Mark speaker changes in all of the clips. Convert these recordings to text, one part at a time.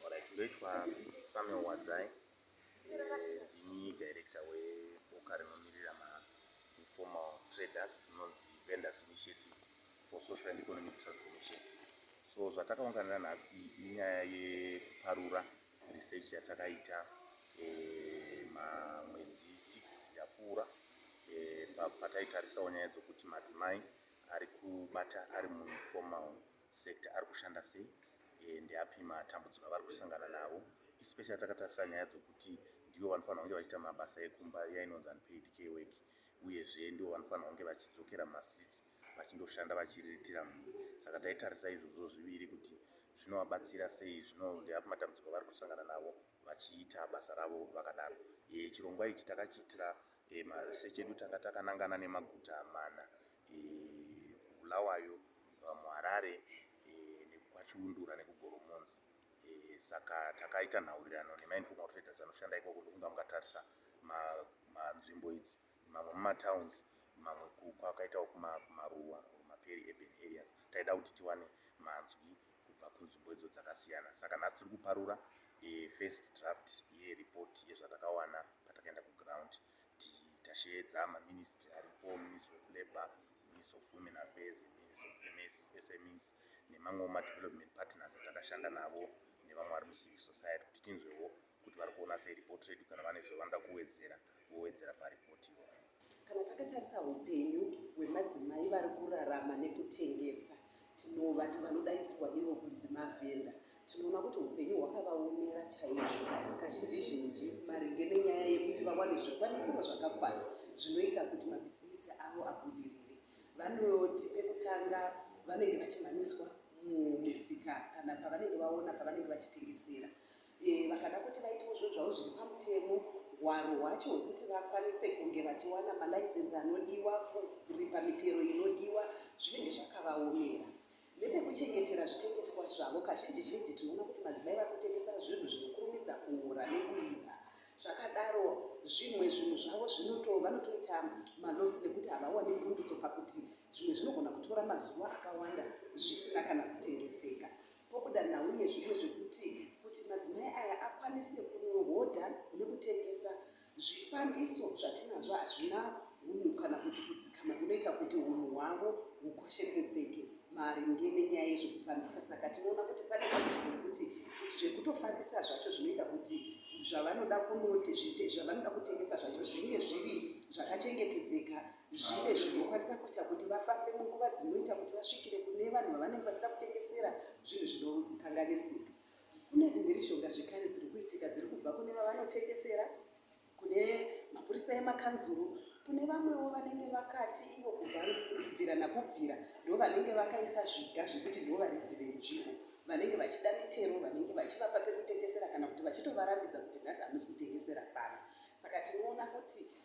Speaker 1: Alright, ndoitwa Samuel Wadzai ndini director weboka rinomirira ma informal traders rinonzi Vendors Initiative for Social and Economic Transformation. So zvatakaunganira nhasi inyaya yekuparura research yatakaita eh, mamwedzi 6 yapfuura eh, pataitarisa nyaya dzokuti madzimai ari kubata ari muinformal sector ari kushanda sei eh, ndeapi matambudziko avari kusangana navo especially takatarisa nyaya dzokuti ndivo vanofanira kunge vachiita mabasa ekumba iya inonzi unpaid care work uyezve ndivo vanofanira kunge vachidzokera mumastreets vachindoshanda vachiriritira mhuri saka taitarisa izvozvo zviviri kuti zvinovabatsira sei zvino ndeapi matambudziko avari kusangana navo vachiita basa ravo vakadaro eh, chirongwa ichi takachiitira eh, maresearch edu tanga takanangana nemaguta mana bulawayo eh, muHarare nekwaChiundura nekuGoromonzi saka takaita nhaurirano nemainformal traders anoshanda ikoko ndokunga mukatarisa manzvimbo idzi mamwe mumatowns mamwe kwakaitawo kumaruwa maperi urban areas taida kuti tiwane manzwi kubva kunzvimbo idzo dzakasiyana saka nhasi tiri kuparura e, first draft yeripoti yezvatakawana patakaenda kuground tichasheedza maministry aripo ministry of labour ministry of women affairs ministry of smes nemamwewo madevelopment partners atakashanda navo nevamwe vari mucivic society kuti tinzwewo kuti vari kuona sei report redu kana vane zvavanoda kuwedzera vowedzera paripoti iyoyo kana takatarisa
Speaker 2: upenyu hwemadzimai vari kurarama nekutengesa tinovati vanodaidzirwa ivo kunzi mavhenda tinoona kuti upenyu hwakavaomera chaizvo kazhinji zhinji maringe nenyaya yekuti vawane zvikwanisiro zvakakwana zvinoita kuti mabhizimisi avo abudirire vanoti pekutanga vanenge vachimhanyiswa mumisika kana pavanenge vaona pavanenge vachitengesera Eh, vakada kuti vaitewo zvinhu zvavo zviri pamutemo hwaro hwacho hwekuti vakwanise kunge vachiwana malaisensi anodiwa kuripa mitero inodiwa zvinenge zvakavaomera nepekuchengetera zvitengeswa zvavo kazhinji zhinji tinoona kuti madzimai vari kutengesa zvinhu zvinokurumidza kuura nekuipa zvakadaro zvimwe zvinhu zvavo zvinoto vanotoita malosi nekuti havawani pundutso pakuti zvimwe zvinogona kutora mazuva akawanda zvisina kana kutengeseka pokuda nhau yezvimwe zvekuti kuti madzimai aya akwanise kunohodha nekutengesa zvifambiso zvatinazvo hazvina hunhu kana kuti kudzikama kunoita kuti hunhu hwavo hukosheredzeke maringe nenyaya yezvekufambisa saka tinoona kuti pane dambudziko rekuti kuti zvekutofambisa zvacho zvinoita kuti zvavanoda kunoti zvavanoda kutengesa zvacho zvinge zviri zvakachengetedzeka zvive zvinokwanisa kuita kuti vafambe munguva dzinoita kuti vasvikire kune vanhu vavanenge vachida kutengesera zvinhu zvinokanganisika kune mhirishonga zvekare dziri kuitika dziri kubva kune vavanotengesera kune mapurisa emakanzuru kune vamwewo vanenge vakati ivo kubvira nakubvira ndo vanenge vakaisa zviga zvekuti ndo varidzi venzvimbo vanenge vachida mitero vanenge vachivapa pekutengesera kana kuti vachitovarambidza kuti nhasi hamusi kutengesera pano saka tinoona kuti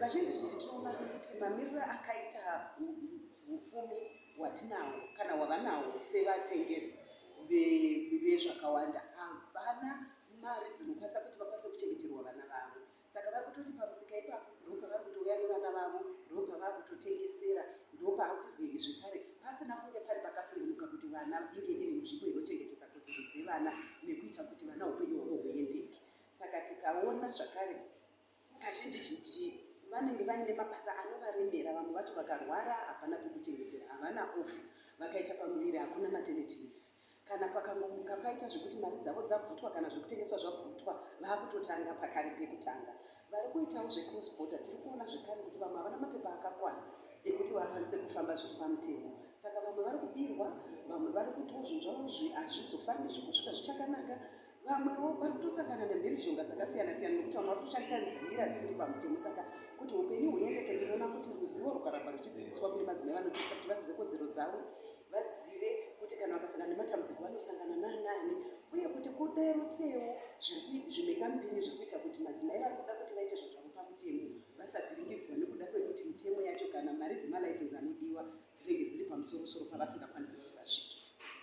Speaker 2: Vazhinji zhinji tinoona kuti mamiriro akaita upfumi hwatinawo kana hwavanawo sevatengesi vezvakawanda havana mari dzinokwanisa kuti vakwanise kuchengeterwa vana vavo saka vari kutoti pamusika ipapo ndopa vari kutouya nevana vavo ndopa vari kutotengesera ndopa vari kuzenge zvekare pasina kunge pari pakasungunuka kuti vana inge iri nzvimbo inochengetedza kodzero dzevana nekuita kuti vana upenyu hwavo huendeke saka tikaona zvakare kazhinjizhinji vanenge vaine mabasa anovaremera vamwe vacho vakarwara hapana pekuchengetera havana ofu vakaita pamuviri hakuna maternity leave kana pakangomuka paita zvekuti mari dzavo dzabvutwa kana zvekutengeswa zvabvutwa vakutotanga pakari pekutanga vari kuitawo zvecross border tiri kuona zvekare kuti vamwe havana mapepa akakwana ekuti vakwanise kufamba zviri pamutemo saka vamwe vari kubirwa vamwe vari kutiwo zvinhu zvavo hazvizofambi zvekusvika zvichakanaka vamwewo vari kutosangana nemhirizhonga dzakasiyana siyana nekuti vamwe vari kushandisa nzira dzisiri pamutemo saka kuti upenyu huendeke ndinoona kuti ruzivo rwukaramba ruchidzidziswa kune madzimai vanodzidzisa kuti vazive kodzero dzavo vazive kuti kana vakasangana nematambudziko vanosangana nanani uye kuti kuderutsewo zvimhengambiri zviri kuita kuti madzimai vari kuda kuti vaite zvinhu zvavo pamutemo vasavhiringidzwa nekuda kwekuti mitemo yacho kana mari dzemalicense anodiwa dzinenge dziri pamusorosoro pavasingakwanisi kuti vasvikire